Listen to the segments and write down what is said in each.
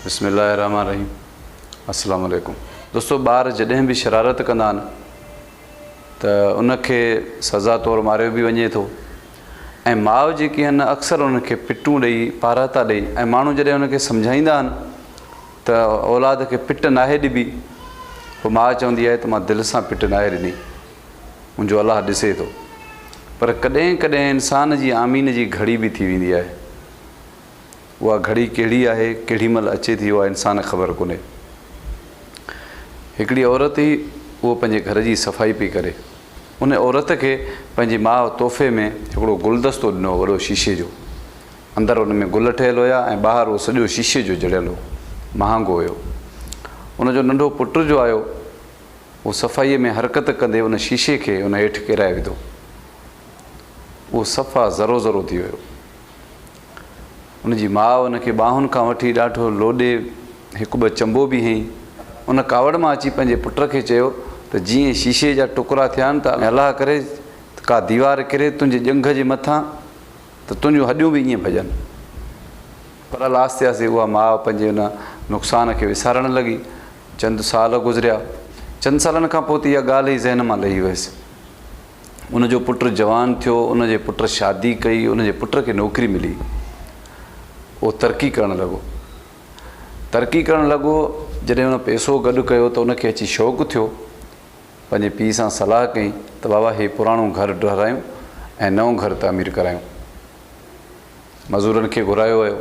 بسم الله الرحمٰن الرحيم السلام عليڪم دوستو ٻار جڏهن به شرارت ڪندا آهن ته ان کي سزا طور ماريو به وڃي ٿو ۽ ماء جيڪي آهن اڪثر انهن کي پٽون ڏئي پارهتا ڏئي ۽ ماڻهو جڏهن انهن کي سمجهائيندا آهن ته اولاد کي پٽ ناهي ڏبي پوء ماء چوندي آهي ته مان دل سان پٽ ناهي ڏني منهنجو الله ڏسي ٿو پر ڪڏهن ڪڏهن انسان جي آمين جي گهڙي به ٿي ويندي آهي اها گهڙي ڪهڙي آهي، ڪهڙي مهل اچي ٿي اها انسان کي خبر ڪونهي. هڪڙي عورت هئي اهو پنهنجي گهر جي صفائي پئي ڪري. ان عورت کي پنهنجي ماء تحفي ۾ هڪڙو گلدستو ڏنو هو وڏو شيشي جو. اندر ان ۾ گل ٺهيل هيا ۽ ٻاهر اهو سڄو شيشي جو جڙيل هو. مهانگو هيو. ان جو ننڍو پٽ جو آيو اهو صفائي ۾ حرڪت ڪندي ان شيشي کي ان هيٺ ڪيرائي وڌو. اهو صفا ذرو ذرو ٿي ويو. ان جي ماء ان کي ٻانهن کان وٺي ڏاڍو لوڏي هڪ ٻه چنبو به هنئي. ان ڪاوڙ مان اچي پنهنجي پٽ کي چيو ته جيئن شيشي جا ٽڪرا ٿيا آهن ته الله ڪري ته ڪا ديوار ڪري تنهنجي ڄنگهه جي مٿان ته تنهنجون هڏيون به ائين ڀڄن. پر الا آهستي آهستي اها ماء پنهنجي ان نقصان کي وسارڻ لڳي. چند سال گذريا. چند سالن کان پوء ته اها ڳالهه ئي ذهن مان لهي ويس. ان جو پٽ جوان ٿيو، ان جي پٽ شادي ڪئي، ان جي پٽ کي نوڪري ملي. اهو ترقي ڪرڻ لڳو. ترقي ڪرڻ لڳو، جڏهن ان پئسو گڏ ڪيو ته ان کي اچي شوق ٿيو. پنهنجي پيء سان صلاح ڪئي ته بابا هي پراڻو گهر ڊهرايون ۽ نئون گهر تعمير ڪرايون. مزورن کي گهرايو ويو.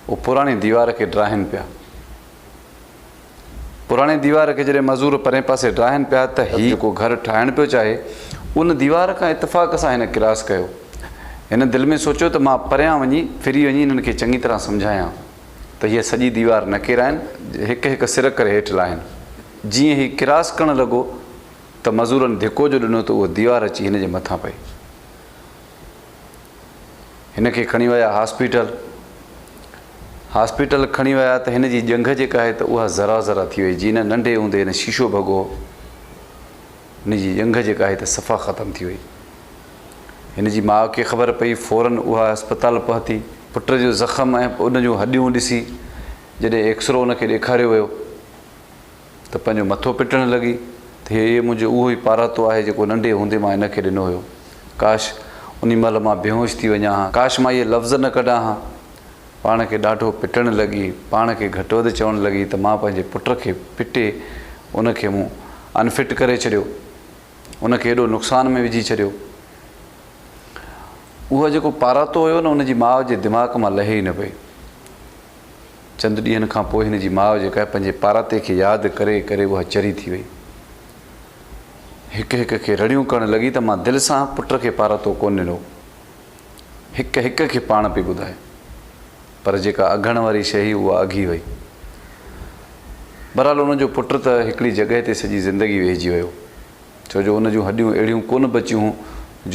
اهو پراڻي ديوار کي ڊاهين پيا. پراڻي ديوار کي جڏهن مزور پرئين پاسي ڊاهن پيا ته هي جيڪو گهر ٺاهڻ پيو چاهي، ان ديوار کان اتفاق سان هن ڪراس ڪيو. هن دل ۾ سوچيو ته مان پريان وڃي، ڦري وڃي انهن کي چڱي طرح سمجهايان ته هيء سڄي ديوار نه ڪيرائين، هڪ هڪ سر ڪري هيٺ لاهين. جيئن هي ڪراس ڪرڻ لڳو ته مزورن ڌڪو جو ڏنو ته اهو ديوار اچي هن جي مٿان پئي. هن کي کڻي ويا هاسپيٽل. هاسپيٽل کڻي ويا ته هن جي ڄنگهه جيڪا آهي ته اها ذرا ذرا ٿي وئي جيئن ننڍي هوندي هن شيشو ڀڳو هو. هن جي ڄنگهه جيڪا آهي ته صفا ختم ٿي وئي. هن جي ماء کي خبر پئي فورن اها اسپتال پهتي. پٽ جو زخم ۽ ان جون هڏيون ڏسي جڏهن ايڪسرو ان کي ڏيکاريو ويو ته پنهنجو مٿو پٽڻ لڳي ته هيء منهنجو اهو ئي پاراتو آهي جيڪو ننڍي هوندي مان هن کي ڏنو هيو. ڪاش! انهي مهل مان بيهوش ٿي وڃان ها. ڪاش مان اهي لفظ نه ڪڍان ها. پاڻ کي ڏاڍو پٽڻ لڳي. پاڻ کي گهٽ وڌ چوڻ لڳي ته مان پنهنجي پٽ کي پٽي ان کي مون Unfit ڪري ڇڏيو. ان کي ايڏو نقصان ۾ وجهي ڇڏيو. اهو جيڪو پاراتو هيو نه ان جي ماء جي دماغ مان لهي ئي نه پئي. چند ڏينهن کان پوء هن جي ماء جيڪا آهي پنهنجي پاراتي کي ياد ڪري ڪري اها چري ٿي وئي. هڪ هڪ کي رڙيون ڪرڻ لڳي ته مان دل سان پٽ کي پاراتو ڪونه ڏنو. هڪ هڪ کي پاڻ پئي ٻڌائي. پر جيڪا اگهڻ واري شيء هئي اها اگهي وئي. بهرحال ان جو پٽ ته هڪڙي جڳهه تي سڄي زندگي ويهجي ويو. ڇو جو ان جون هڏيون اهڙيون ڪونه بچيون هون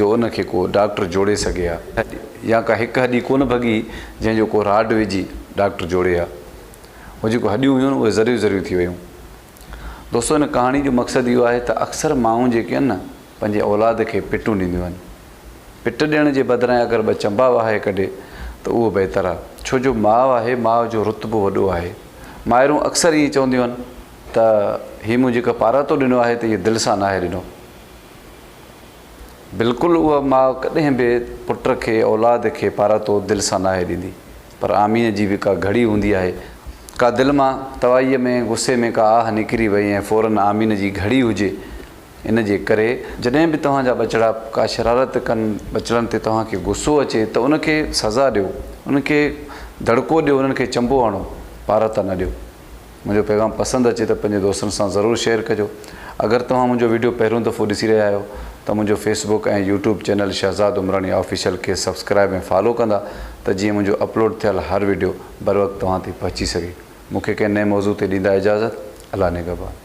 جو ان کي ڪو ڊاڪٽر جوڙي سگهي ها يا ڪا هڪ هڏي ڪونه ڀڳي هي جنهن جو ڪو راڊ وجهي ڊاڪٽر جوڙي ها هو جيڪو هڏيون هيون اهي ذريون ذريون ٿي ويون دوستو ان ڪهاڻي جو مقصد اهو آهي ته اڪثر مائون جيڪي آهن نه پنهنجي اولاد کي پٽون ڏينديون آهن پٽ ڏيڻ جي بدران اگر ٻه چنبا وهائي ڪڍي ته اهو بهتر آهي ڇو جو ماء آهي ماء جو رتبو وڏو آهي مائرون اڪثر ائين چونديون آهن ته هي مون جيڪا پاراتو ڏنو آهي ته هي دل سان ناهي ڏنو. بلڪل اها ماء ڪڏهن به پٽ کي، اولاد کي پاراتو دل سان ناهي ڏيندي. پر آمين جي به ڪا گهڙي هوندي آهي. ڪا دل مان توائيء ۾ غصي ۾ ڪا آهه نڪري وئي ۽ فورن آمين جي گهڙي هجي. ان جي ڪري جڏهن به توهان جا ٻچڙا ڪا شرارت ڪن، ٻچڙن تي توهان کي غصو اچي ته ان کي سزا ڏيو، انهن کي دڙڪو ڏيو، انهن کي چنبو هڻو، پاراتا نه ڏيو. منهنجو پيغام پسند اچي ته پنهنجي دوستن سان ضرور شيئر ڪجو. اگر توهان منهنجو وڊيو پهريون دفعو ڏسي رهيا آهيو ته منهنجو Facebook ۽ YouTube channel Shahzad Umrani official کي سبسڪرائيب ۽ فالو ڪندا ته جيئن منهنجو اپلوڊ ٿيل هر وڊيو بروقت توهان تائين پهچي سگهي. مون کي ڪنهن نئين موضوع تي ڏيندا اجازت. الله نگهبان.